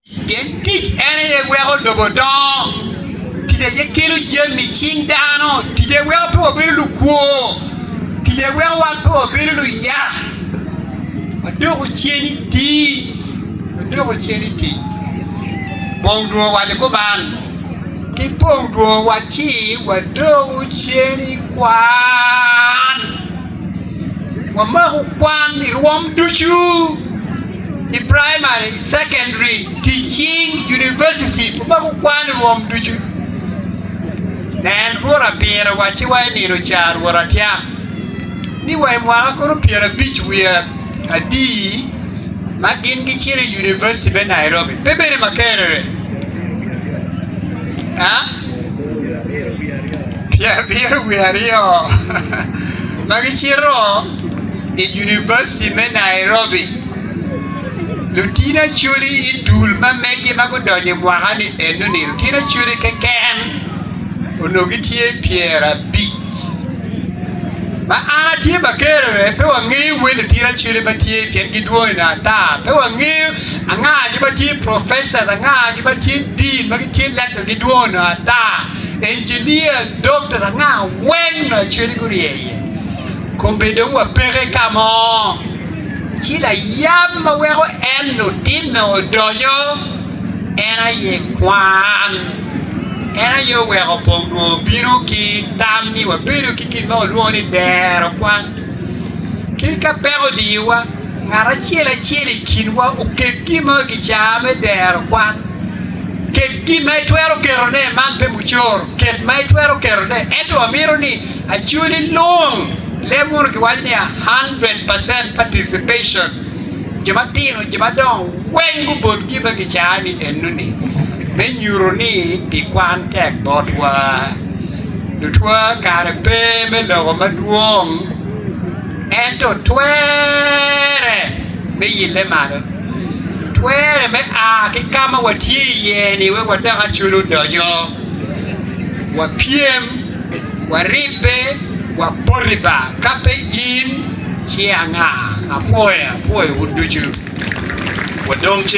Pien tic en aye weko lobo dongo, tic aye kelo jami i cing dano. Tic aye weko pe wabedo lukwo, tic aye weko wan pe wabedo luyak. Wadoko cen i tic, wadoko cen i tic. Bong dwong owaco kuman, Ki bong dwong waci wadoko cen i kwan. Wamako kwan i rwom ducu, i praimari, i cekondaria, ticing, univaciti, wamako kwan i rwom ducu. Nen, Rwot apiro owacciwa i nino ca, Rwot atyam, ni wa i mwaka kono pyerabic wiye, Adii, ma gin gicito i Univaciti me Nairobi pe bedo ma kerrere? A? Pyerabiro wiye aryo ma gicito i Univaciti me Nairobi, lutini acwali i dul ma meggi ma gudonyo i mwaka-ni enoni, lutini acwali keken onongo gitye pyerabic. Ma an atye ma kerere, pe wangeyo wel otira cwele ma tye, pien gidwong i nge ata. Pe wangeyo anga jo ma tye profeca, anga jo ma tye din, ma gitye lekta, gidwong i nge ata. Injinia, dokta, anga wene cwele gurye iye. Kobbe dong wapeke ka mo, ci layab ma weko en lutino odoco En aye kwan. En aye oweko pong nwo obino ki tam ni wabedo ki gin ma walwongo ni dero kwan. Kit ka peko odiyowa, ngat acel acel i kinwa oket gin mo i kicaa me dero kwan. Ket gin ma itwero ketone, man pe mucoro, ket ma itwero ketone. Ento wamito ni acwali lung leb wunu ki waco ni a hundred percent participation. jo matino, jo madongo weng gubol gin ma gicaa ni enoni me nyuto ni pi kwan tek botwa. Lutwa kare pe me loko madwong ento twere me yille malo, twere me a ki ka ma watye iye ni wek wadok acol odoco, wapyem, waribbe, waboti ba ka pe in. Ci anga? Apwoye, apwoyo wun ducu. Wadong ci.